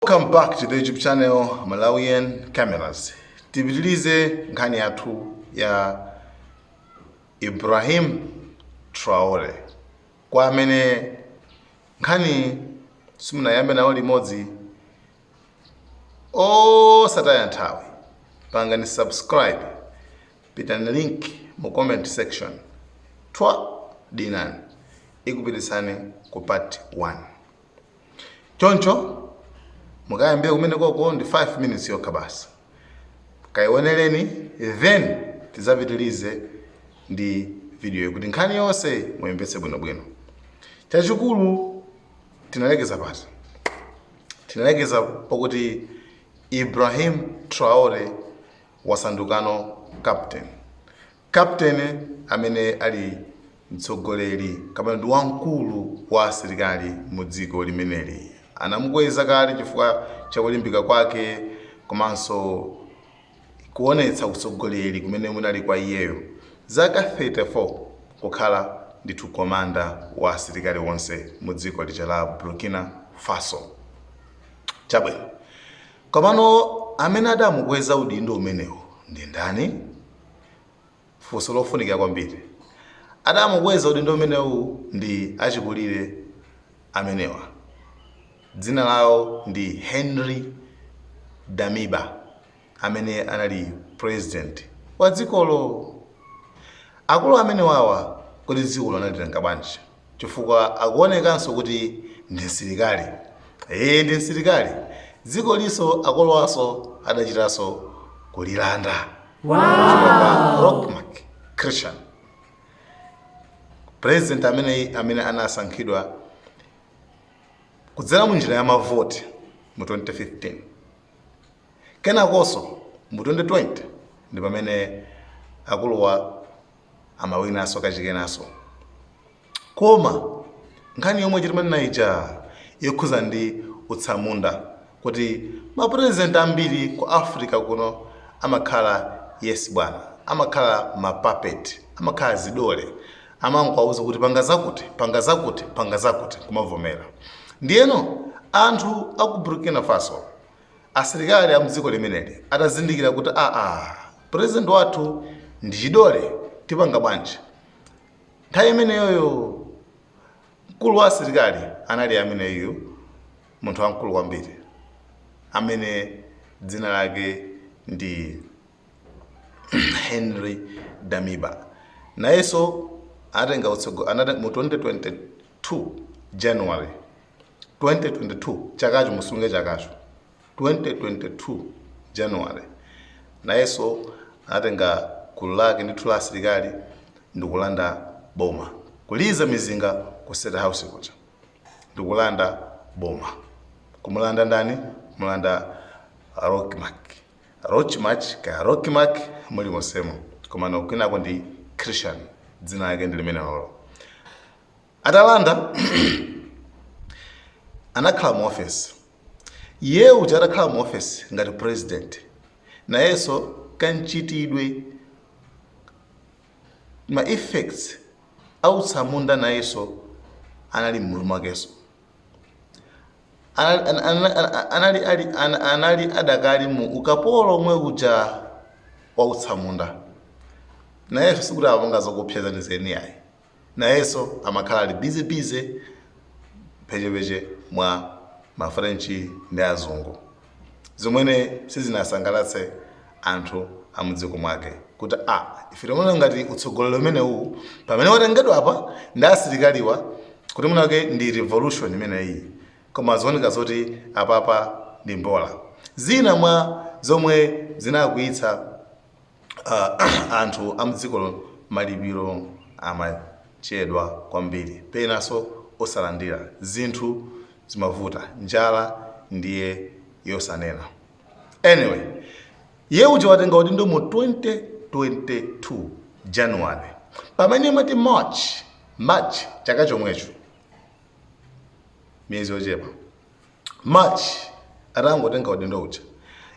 Welcome back to the YouTube channel Malawian Cameras. Tipitilize nkhani yathu ya Ibrahim Traore kwa amene nkhani simunayambe nawo limodzi osataya nthawi pangani subscribe pitani link mu comment section twa dinani ikupititsani ku part 1 choncho mukayambire kumene koko ndi 5 minutes yokha basi kayioneleni then tizapitilize ndi videoyi kuti nkhani yonse muyimvetse bwinobwino chachikulu tinalekeza pati tinalekeza pakuti ibrahim traore wasandukano captain Captain amene ali mtsogoleri kapena ndi wamkulu wa asilikali mu dziko limeneli anamukweza kale chifukwa cha kulimbika kwake komanso kuonetsa utsogoleri umene unali kwa iyeyo, zaka 34 kukhala ndithu komanda wa asilikali onse mu dziko lija la Burkina Faso. Chabwino, komano amene adamukweza udindo umenewu ndi ndani? funso lofunikira kwambiri adamukweza udindo umenewu ndi achikulire amenewa dzina lawo ndi Henri damiba amene anali president wa dzikolo akulu amenewawa kodi dzikolo analitenga bwanji chifukwa akuonekanso kuti ndi msilikali ee ndi msilikali dzikoliso akuluwaso adachitaso kulilanda kwa Roch Marc Christian president amene anasankhidwa kudzera mu njira ya mavoti mu 2015 kenakonso mu 2020 ndi pamene akuluwa amawinanso kachikenanso koma nkhani yomweyi timanena ija yokhuza ndi utsamunda kuti mapurezidenti ambiri ku africa kuno amakhala yes bwana amakhala mapapeti amakhala zidole amangowauza kuti panga zakuti panga zakuti panga zakuti kumavomera ndiyeno anthu aku burkina faso asilikali a mdziko limeneli atazindikira kuti aa president wathu ndi chidole tipanga bwanji nthawi imeneyoyo mkulu wa asilikali anali ameneyu munthu wamkulu kwambiri amene dzina lake ndi henry damiba nayenso anatenga utsogo anate- mu 2022 january 2022 chakacho musunge chakacho 2022 January nayenso anatenga gulu lake ndithu la asilikali ndikulanda boma kuliza mizinga ku state house kuja ndikulanda boma kumulanda ndani kumulanda Roch Marc Roch Marc kaya Roch Marc muli monsemo komano kwinako ndi christian dzina lake ndi limenelolo atalanda anakhala mu office Iye uja atakhala mu ofesi ngati president, nayenso kanchitidwe ma effects autsamunda nayenso anali m'mutu mwakenso anali, anali, anali, anali, anali adakali mu ukapolo omwe uja wautsamunda nayenso sikuti amapanga zoopsa zenizeni ayi nayenso amakhala ali busy busy mphechepeche mwa ma french ndi azungu zomwe sizinasangalatse anthu amudziko mwake kuti a ah, ife timaona ngati utsogoleri umenewu pamene watengedwa apa ndi asilikaliwa kuti mwinatu ndi revolution imeneyi koma zikuoneka zoti apapa ndi mbola zina mwa zomwe zinakwiyitsa uh, anthu amdziko malipiro amachedwa kwambiri penanso osalandira zinthu zimavuta njala ndiye yosaneneka anyway iye uja watenga udindo mu 2022 january pamene imati march march chaka chomwecho miyezi yochepa March atangotenga udindo uja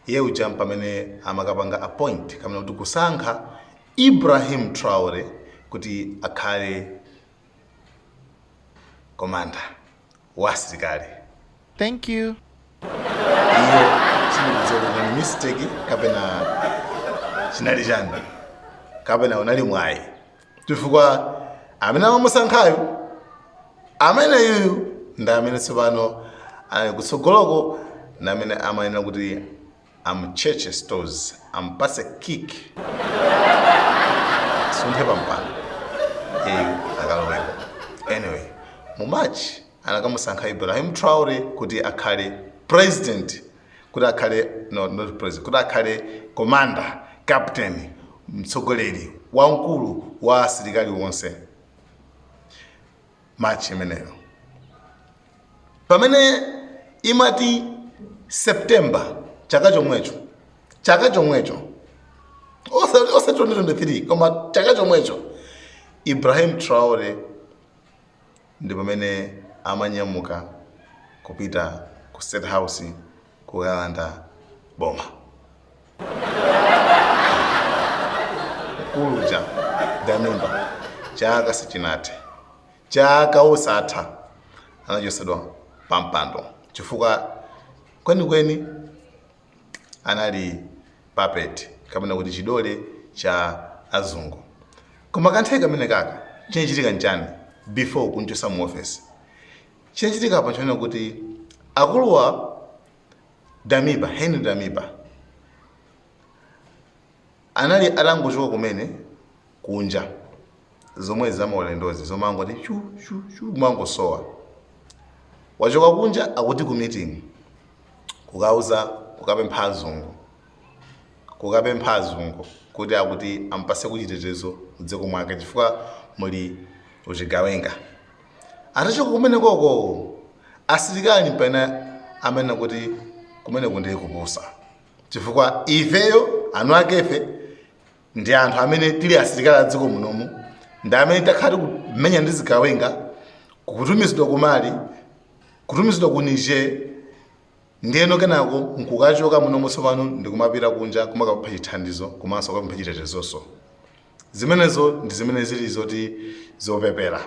iye uja mpamene amakapanga appoint kapena kuti kusankha Ibrahim Traore kuti akhale komanda wa asilikali Thank you. iye sindikudziwa kuti ndi mistake kapena chinali chani kapena unali mwayi chifukwa amene amamusankhayo ameneyuyu ndi amene tsopano ali kutsogoloko ndi amene amayenera kuti amtchetche stosi ampatse kick suntha pampano iye akaloweko anyway mu march anakamusankha ibrahim traore kuti akhale president kuti akhale no, not president kuti akhale commander captain mtsogoleri wamkulu wa asilikali wonse march imeneyo pamene imati september chaka chomwecho chaka chomwecho Osa- osati 2023 koma chaka chomwecho ibrahim traore ndi pamene amanyamuka kupita ku state house kukalanda boma. Mkulu uja Damiba chaka sichinathe, chaka osatha anachosedwa pampando chifukwa kwenikweni anali puppet kapena kuti chidole cha azungu koma kanthawi kamene kaka chinachitika n'chani before kunchosa mu office chinachitika apa n'chonena kuti akuluwa damiba henry damiba Anali atangochoka kumene kunja zomwezi zamaulendozi zomangoti chu chu chu kumangosowa wachoka kunja akuti ku meeting kukauza kukapempha azungu kukapempha azungu kuti akuti ampase kuchitetezo mdziko mwake chifukwa muli uchigawenga atachoka kumene koko asilikali mpamene amanena kuti kumene kundiye kupusa chifukwa ifeyo anu akefe ndi anthu amene tili asilikali a dziko munomu ndi amene takhala tikumenya ndi zigawenga kutumizidwa ku mali kutumizidwa ku niger ndiyeno kenako nkukachoka munomu tsopano ndikumapita kunja kumakapempha chithandizo komanso kukapempha chitetezonso zimenezo ndi zimene zili zoti zopepera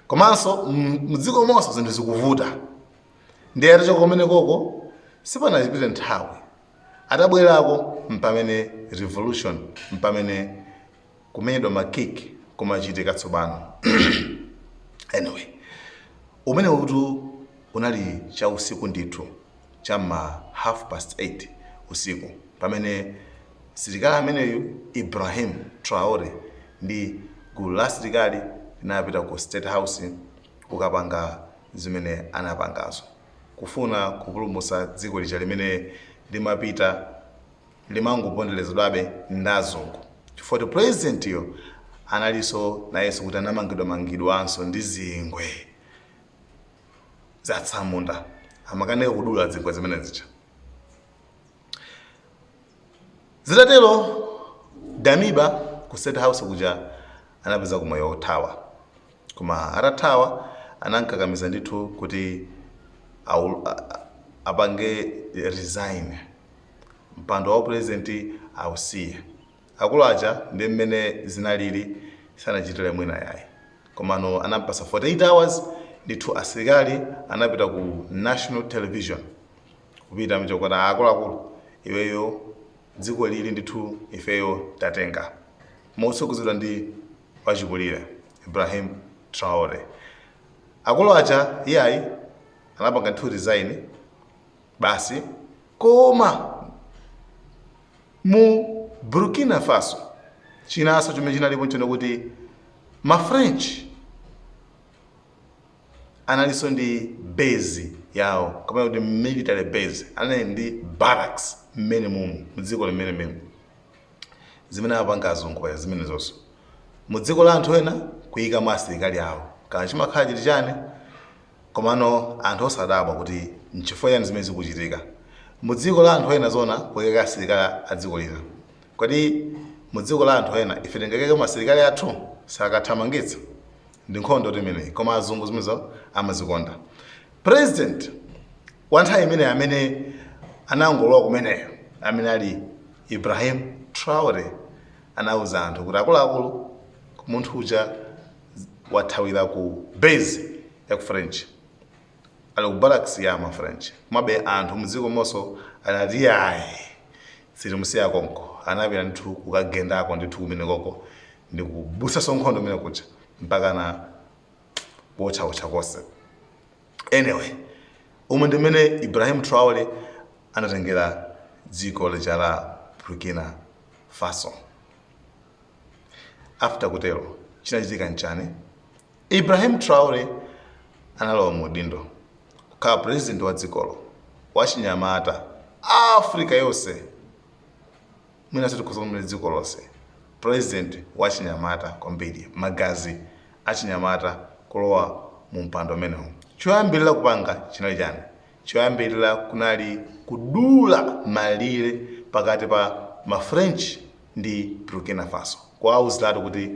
komanso mdzikomonso zinthu zikuvuta ndiye atachoka kumenekoko sipanachipite nthawi atabwerako mpamene revolution mpamene kumenyedwa makiki kumachitika tsopano anyway umenewutu unali cha usiku ndithu cha ma half past 8 usiku pamene silikali ameneyu ibrahim traore ndi gulu la asilikali linapita ku state house kukapanga zimene anapangazo kufuna kupulumusa dziko lija limene limapita limangopondelezedwabe ndi azungu chifukwa choti president yo analiso nayeso kuti anamangidwa mangidwanso ndi zingwe zatsamunda amakanika kudula zingwe zimene zija zitatero damiba ku state house kuja anapezako mwayi wothawa koma atathawa anamkakamiza ndithu kuti awu- a- a- apange resign mpando wa upurezidenti ausiye akulu aja ndi mmene zinalili sanachitire mwina yayi komano anampasa 48 hours ndithu asilikali anapita ku national television kupita mchokota akuluakulu iweyo dziko lili ndithu ifeyo tatenga motsogozedwa ndi wachikulire ibrahim traore akulu aja iyayi anapanga ndithu resign basi koma mu burkina faso chinanso chimene chinalipo nchonena kuti mafrench analinso ndi base yawo kapena kuti military base anali ndi barracks mmene mumu mdziko limene mumu zimene apanga azungu paja zimenezonso mu dziko la anthu ena kuyikamo asilikali awo kaya chimakhala chili chani komano anthu osadabwa kuti nchifukwa chani zimene zikuchitika mu dziko la anthu ena zona kuyika asilikali a dziko lina kodi mu dziko la anthu ena ife tingakaikemo asilikali athu sakathamangitsa ndi nkhondotu imeneyi koma azungu zimenezo amazikonda president wa nthawi imeneyi amene anangolowa kumeneyo amene ali ibrahim traore anauza anthu kuti akuluakulu munthu uja wathawira ku base ya ku french Ali ku barracks ya ma French. Komabe anthu mdzikomonso anati iyayi sitimusiya konko. Anapita ndithu kukagendako ndithu kumenekoko ndi kubutsanso nkhondo kumene kuja mpakana kuotchaotcha konse. Anyway, umu ndi mmene Ibrahim Traore anatengera dziko lija la Burkina Faso. After kutero chinachitika nchani? Ibrahim Traore analowa mu udindo kukhala president wa dzikolo wachinyamata Africa yonse mwinanso tikhoza kunena dziko lonse president wachinyamata kwambiri magazi achinyamata kulowa mu mpando umenewu choyambirira kupanga chinali chani choyambirira kunali kudula malire pakati pa ma French ndi Burkina Faso kuwauziratu kuti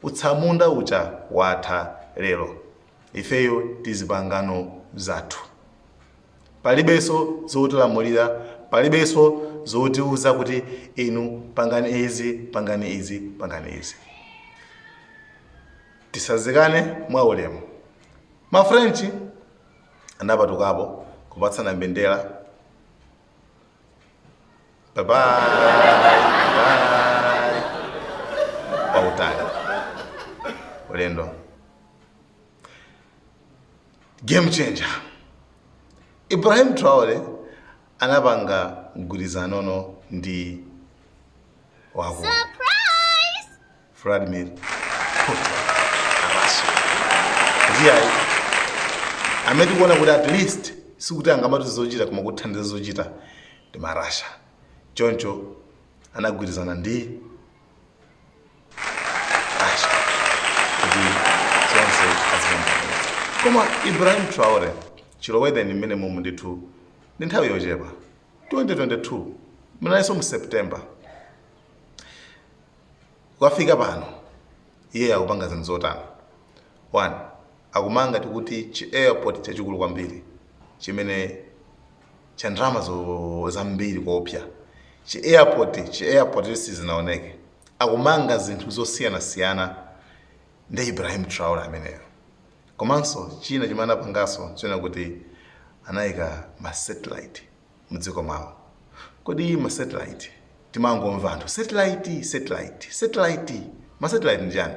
Utsamunda uja watha lero ifeyo tizipangano zathu. Palibenso zotilamulira, palibenso zotiuza kuti inu pangani izi, pangani izi, pangani izi. Tisazikane mwa ulemu. Ma French anapatukapo kupatsana mbendera. babayi wautali ulendo game changer ibrahim traore anapanga mgwirizano ndi waku Vladimir Putin wa Russia. Kuti ayi, amene tikuona kuti at least sikuti angamati zochita koma kuthandiza zochita ndi ma Russia. Choncho anagwirizana ndi Russia kuti zonse azipanga. Koma Ibrahim Traore chilowereni mmene mumu ndithu ndi nthawi yochepa 2022 munalinso mu September kukafika pano iye akupanga zinthu zotani one akumanga tikuti chi airport chachikulu kwambiri chimene cha ndalama zambiri kuopsa chi airport chi airport sizinaoneke akumanga zinthu zosiyanasiyana nde ibrahim traore ameneyo komanso china chimene anapanganso china kuti anayika ma satellite mdziko mwawo. Kodi ma satellite timangomva anthu satellite satellite satellite ma satellite ndi chani?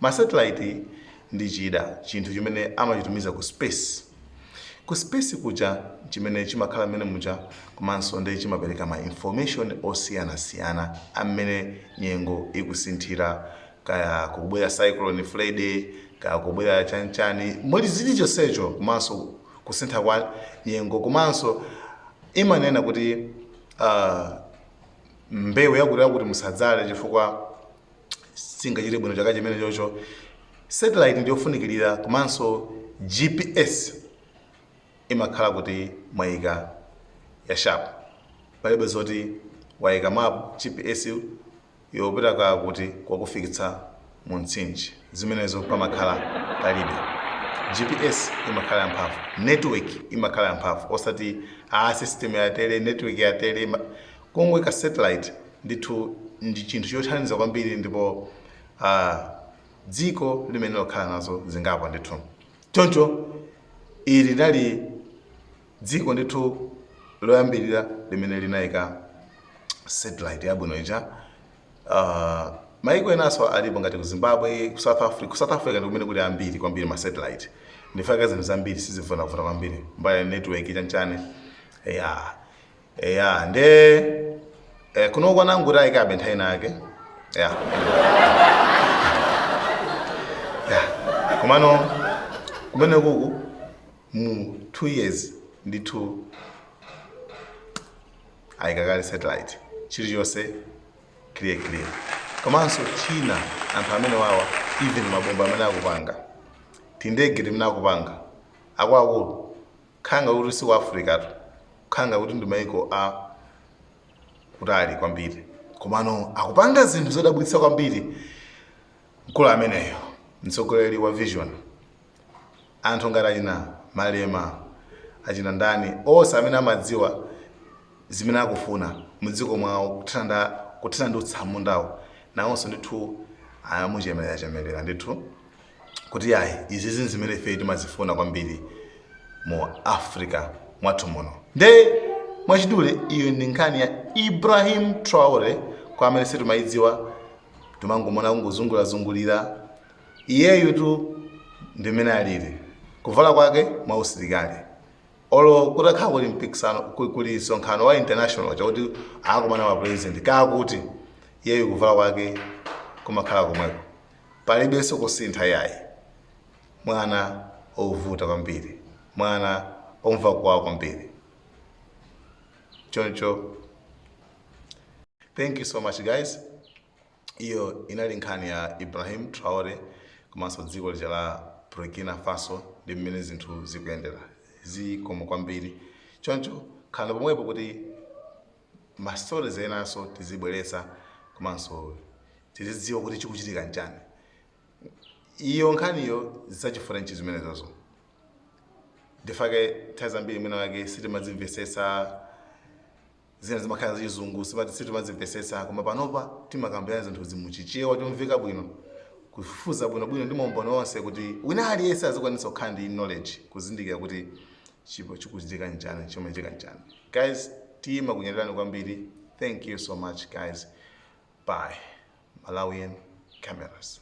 Ma satellite ndi chida chinthu chimene amachitumiza ku space. Ku space kuja chimene chimakhala mmene muja komanso ndiye chimapereka ma information osiyanasiyana a mmene nyengo ikusinthira kaya kukubwera cyclone Freddy kaya kubwera chanchani mulizili chonsecho komanso kusintha kwa nyengo komanso imanena kuti uh, mbewu yakuti yakuti musadzale chifukwa singachite bwino chaka chimenecho choncho satellite ndiyofunikirira komanso gps imakhala kuti mwayika ya sharp palibe zoti wayika map gps yopita kaa kuti kwakufikitsa mu mtsinje zimenezo pamakhala palibe. GPS imakhala yamphamvu. Network imakhala yamphamvu osati aa system yatere, network yatere ima. Kungoika satellite ndithu ndi chinthu chothandiza kwambiri ndipo aa dziko limene lokhala nazo zingapo ndithu. Choncho ili linali. Dziko ndithu loyambirira limene linaika satellite yabwino ija uh, maiko enanso alipo ngati ku Zimbabwe, ku South Africa ndi kumene kuli ambiri kwambiri ma satellite. Nchifukwa zinthu zambiri sizivuta vuta kwambiri. Mbali network chanchani. Yeah. eya nde eh, kuno kwanathu kuti ayikabe nthawi ina yake ya ya komano kumene kuku mu two years ndithu ayika kale satellite chilichonse clear clear komanso china anthu amene wawa even mabomba amene akupanga tindege timene akupanga akwaku Kukhala ngati si ku Africa tu, kukhala ngati ndi maiko a kutali kwambiri. Komano akupanga zinthu zodabwitsa kwambiri mkulu ameneyo, mtsogoleri wa vision. Anthu ngati achina Malema, achina ndani, onse amene amadziwa zimene akufuna mdziko mwawo kuthana nda kuthana ndi utsamundawo, nawonso ndithu amuchemelerachemelera ndithu. kuti ayi izizi nzimene ifeyo timazifuna kwambiri mu africa mwathu muno nde mwachidule iyo ndi nkhani ya ibrahim traore kwa amene sitimayidziwa timangomona kungozungulirazungulira iyeyu tu ndimene alili kuvala kwake mwa usilikali olo kutakhala kuli mpikisano ku- kuli msonkhano wa international chakuti akumana ma president kakuti iyeyu kuvala kwake kumakhala komweko Palibenso kusintha yayi. Mwana ovuta kwambiri. Mwana omva kwawo kwambiri. Choncho thank you so much guys. Iyo inali nkhani ya Ibrahim Traore komanso dziko lija la Burkina Faso ndi mmene zinthu zikuyendera. Zikomo kwambiri. Choncho khalani pomwepo kuti ma stories enanso tizibweretsa komanso tizidziwa kuti chikuchitika nchani iyo nkhaniyo za chi French zimenezozo ndifake nthawi zambiri mwina wake sitimazimvetsetsa zina zimakhala zachizungu sitima- sitimazimvetsetsa koma panopa timakambirana zinthu zimuchichewa chomveka bwino kufufuza bwinobwino ndi maumboni onse kuti wina aliyense azikwanisa kukhala ndi knowledge kuzindikira kuti Chipo chikuchitika nchani chimachitika nchani guys tima kunyadilani kwambiri thank you so much guys bye malawian cameras